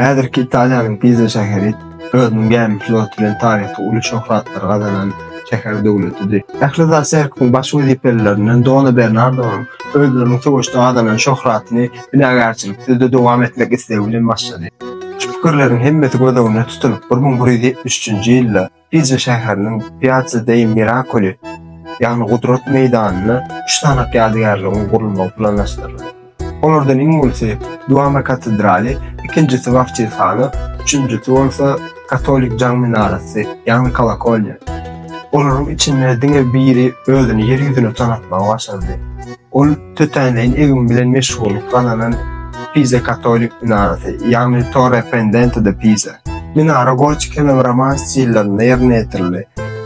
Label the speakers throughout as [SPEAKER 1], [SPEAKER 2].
[SPEAKER 1] Häzirki Italiýanyň Piza şäheri özüniň gämi floty bilen taryhda uly şöhratlary gazanan şäher döwletidi. Ähli zat sergisiň baş wezipelilerinden Dona Bernardonyň özleriniň söweşde gazanan şöhratyny binagärçiliksizde dowam etmek islegi bilen başlady. Şu pikirleriň hemmesi göz öňünde tutulyp, bir müň bir ýüz ýetmiş üçünji ýylda Pizza şäheriniň Piazza dei Miracoli, ýagny Gudrat meýdanynda üç sanak ýadygärligiň gurulmagy planlaşdyrylar. Olardan iň ulusy Duomo katedraly, ikinjisi Wawçilhana, üçünjisi bolsa katolik jaň minarasy, ýagny kolokolýa. Olaryň içinde diňe biri özüni ýer ýüzüne tanatmagy başardy. Ol tötänleýin egim bilen meşgullyk gazanan Pize katolik minarasy, ýagny Torre Pendente de Pisa. Minara gotikanyň romans stillerinde ýerine ýetirildi.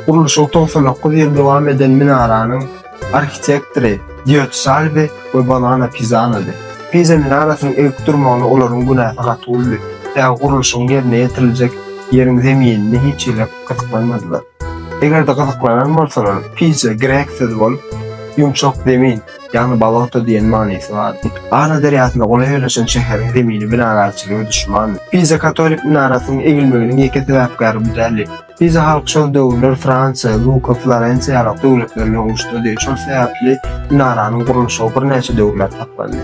[SPEAKER 1] Gurluşygy togsan dokuz ýyl dowam eden minaranyň arhitektory Dýot Salvi we Bonana Pizanodi. Pize minarasynyň egip durmagyna olaryň günäsi gaty boldy, sebäbi gurluşygyň ýerine ýetiriljek ýeriň zeminine hiç hili gyzyklanmadylar. Eger-de gyzyklanan bolsaňyz, pije greksiz bolup, ýumşak zemin, ýagny baloto diýen manysy bardy. Ara derýasyna golaý ýerleşen şäheriň zemini binagärçiligi ödüşmandy. Pije katolik minarasynyň egilmeginiň ýeke sebäpkäri bu däldi. Pije halky şol döwürler Fransiýa, Luka, Florensiýa ýaly döwletler bilen uruşdady. Şol sebäpli minaranyň gurluşygy birnäçe döwürläp saklandy.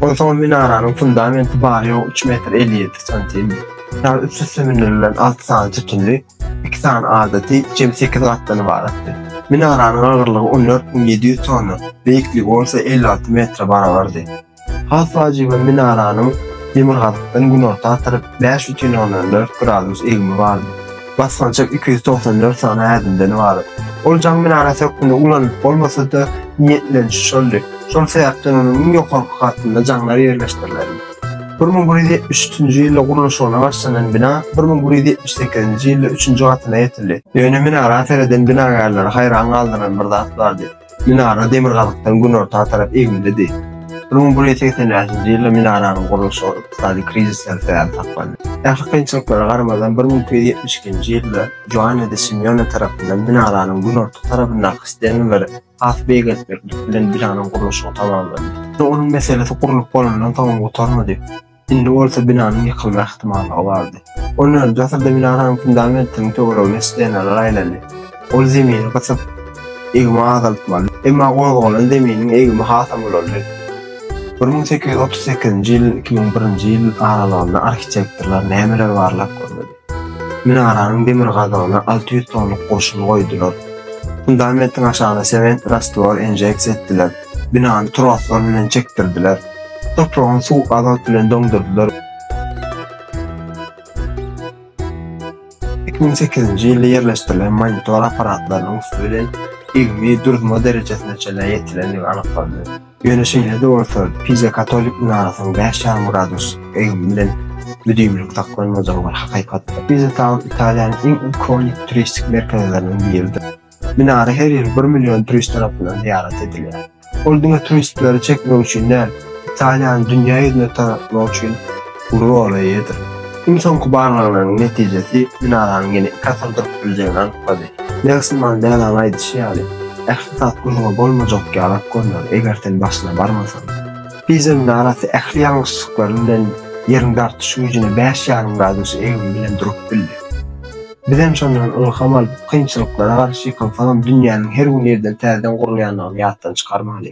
[SPEAKER 1] Onsoň minaranyň fundamenti bary ýogy üç metr elli ýedi santim. Ýaly üst-üste mündürilen alty sany sütünli, iki sany adaty, jemi sekiz gatdan ybaratdy. Minaranyň agyrlygy on dört müň ýedi ýüz tonna, beýikligi bolsa elli alty metre barabardy. Has wajyby minaranyň demirgazykdan günorta tarap bäş bütin ondan dört gradus egimi bardy. Basgançak iki ýüz togsan dört sany ädimden ybarat. Ol jaň minarasy hökmünde ulanylyp bolmasa-da, niýetlenişi şoldy. Şol sebäpden onuň iň ýokarky gatynda jaňlar ýerleşdirildi. Bir müň bir ýüz ýetmiş üçünji ýylda gurluşygyna başlanan bina bir müň bir ýüz ýetmiş sekizinji ýylda üçünji gatyna ýetildi. Ýöne minara sereden binagärleri haýran galdyran bir zat bardy. Minara demirgazykdan günorta tarap egmilidi. Bir müň bir ýüz segsen bäşinji ýylda minaranyň gurluşy ykdysady krizisden sebäp saklandy. Ähli kynçylyklara garamazdan, bir müň iki ýüz ýetmiş ikinji ýylda Joanne de Simeone tarapyndan minaranyň günorta tarapyndaky stengleri has beýgeltmeklik bilen binanyň gurluşygy tamamlandy. Ýöne onuň meselesi gurlup bolandan soňam gutarmady. Indi bolsa binanyň ýykylma ähtimallygy bardy. On nji asyrda binanyň fundamentiniň töweregine stenalar aýlandy. Ol zemini gysyp, egimi azaltmaly. Emma gozgalan zeminiň egimi hasam ulaldy. Bir müň sekiz ýüz otuz sekizinji ýyl, iki müň birinji ýyl aralygynda arhitektorlar nämeleri barlap görmedi? Minaranyň demir gazygyna alty ýüz tonluk goşun goýdular. Fundamentiň aşagyna sement rastwor injeksiýa etdiler. Binany troslar bilen çekdirdiler. Topragyň suw azot bilen doňdurdylar. Iki müň sekizinji ýylda ýerleşdirilen monitor apparatlarynyň üsti bilen ilmi durma derejesine çenli ýetilendigi anyklandy. Ýöne şeýle-de bolsa, Pize katolik minarasynyň bäş ýarym gradus egin bilen büdimlik saklanmajagy bir hakykatdyr. Pize Taun Italiýanyň iň ikonik turistik merkezleriniň biridir. Minara her ýyl bir million turist tarapyndan zyýarat edilýär. Ol diňe turistleri çekmek üçin däl, Italiýany dünýä ýüzüne tanatmak üçin uly orna eýedir. Iň soňky barlaglaryň netijesi minaranyň ýene iki asyr durup biljegini anyklady. Nelson Mandelaň aýdyşy ýaly, ähli zat gürrüňi bolmajak ýalak görner, eger sen başyna barmasaň. Piza minarasy ähli ýalňyşlyklary bilen Ýeriň dartyş güýjüne bäş ýarym gradus egrimi bilen durup bildi. Bizem şondan ylham alyp, kynçylyklara garşy ýykynsagam dünýäniň her gün ýerden täzeden gurulýandygyny ýatdan çykarmaly.